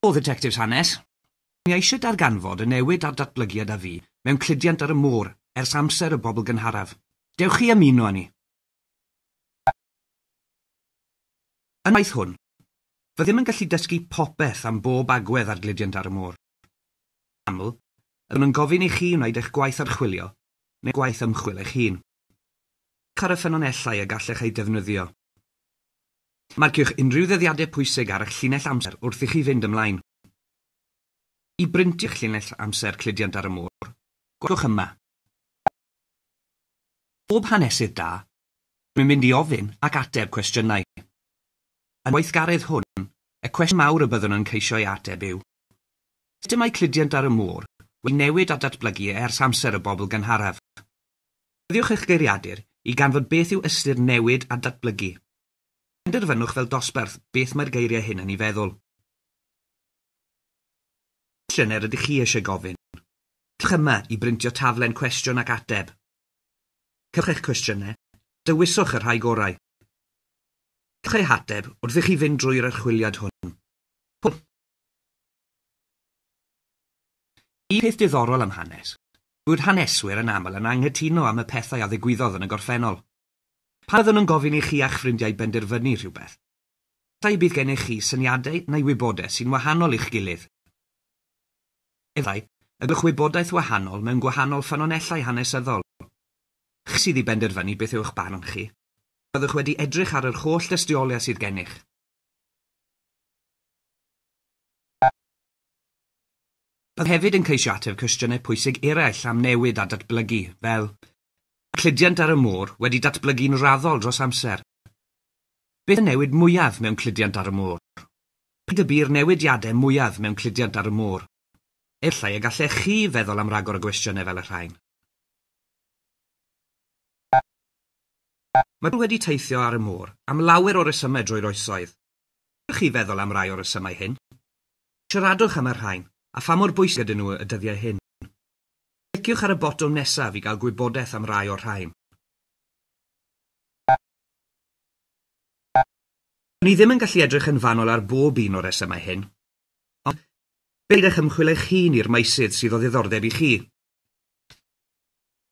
O Dditectifs Hanes. Mi eisiau darganfod y newid a'r datblygiad a fu mewn cludiant ar y môr ers amser y bobl gynharaf. Dewch chi ymuno â ni. Yn y gwaith hwn, fyddem yn gallu dysgu popeth am bob agwedd ar gludiant ar y môr. Yn aml, byddwn yn gofyn i chi wneud eich gwaith archwilio neu gwaith ymchwil eich hun. Edrychwch ar y ffynonellau y gallech eu defnyddio. Marciwch unrhyw ddyddiadau pwysig ar eich llinell amser wrth i chi fynd ymlaen. I brintio eich llinell amser cludiant ar y môr, gweithwch yma. Pob hanesydd da, rwy'n mynd i ofyn ac ateb cwestiynau. Yn y gweithgaredd hwn, y cwestiwn mawr y byddwn yn ceisio ei ateb yw, Systemau cludiant ar y môr wedi newid a datblygu ers amser y bobl gynharaf. Defnyddiwch eich geiriadur i ganfod beth yw ystyr newid a datblygu. Penderfynwch fel dosbarth beth mae'r geiriau hyn yn ei feddwl. Pa gwestiynau rydych chi eisiau gofyn? Cliciwch yma i brintio taflen cwestiwn ac ateb. Cliciwch eich cwestiynau, dewiswch y rhai gorau. Cliciwch eu hateb wrth i chi fynd drwy'r archwiliad hwn. Hwyl! Un peth diddorol am hanes yw bod haneswyr yn aml yn anghytuno am y pethau a ddigwyddodd yn y gorffennol. Pan fyddwn yn gofyn i chi a'ch ffrindiau benderfynu rhywbeth, efallai y bydd gennych chi syniadau neu wybodaeth sy'n wahanol i'ch gilydd. Efallai y gallwch wybodaeth wahanol mewn gwahanol ffynonellau hanesyddol. Chi sydd i benderfynu beth yw'ch barn chi. Byddwch wedi edrych ar yr holl dystiolaeth sydd gennych. Bydd hefyd yn ceisio ateb cwestiynau pwysig eraill am newid a datblygu, fel, Mae'r cludiant ar y môr wedi datblygu'n raddol dros amser. Beth y newid mwyaf mewn cludiant ar y môr? Pryd y bu'r newidiadau mwyaf mewn cludiant ar y môr? Efallai y gallech chi feddwl am ragor o gwestiynau fel y rhain. Mae pobl wedi teithio ar y môr am lawer o resymau drwy'r oesoedd. Allwch chi feddwl am rai o'r resymau hyn? Siaradwch am y rhain a pha mor bwysig ydyn nhw y dyddiau hyn. Cliciwch ar y botwm nesaf i gael gwybodaeth am rai o'r rhain. Dw ni ddim yn gallu edrych yn fanwl ar bob un o'r resymau hyn, Ond, peidiwch ymchwil eich hun i'r meysydd sydd o ddiddordeb i chi.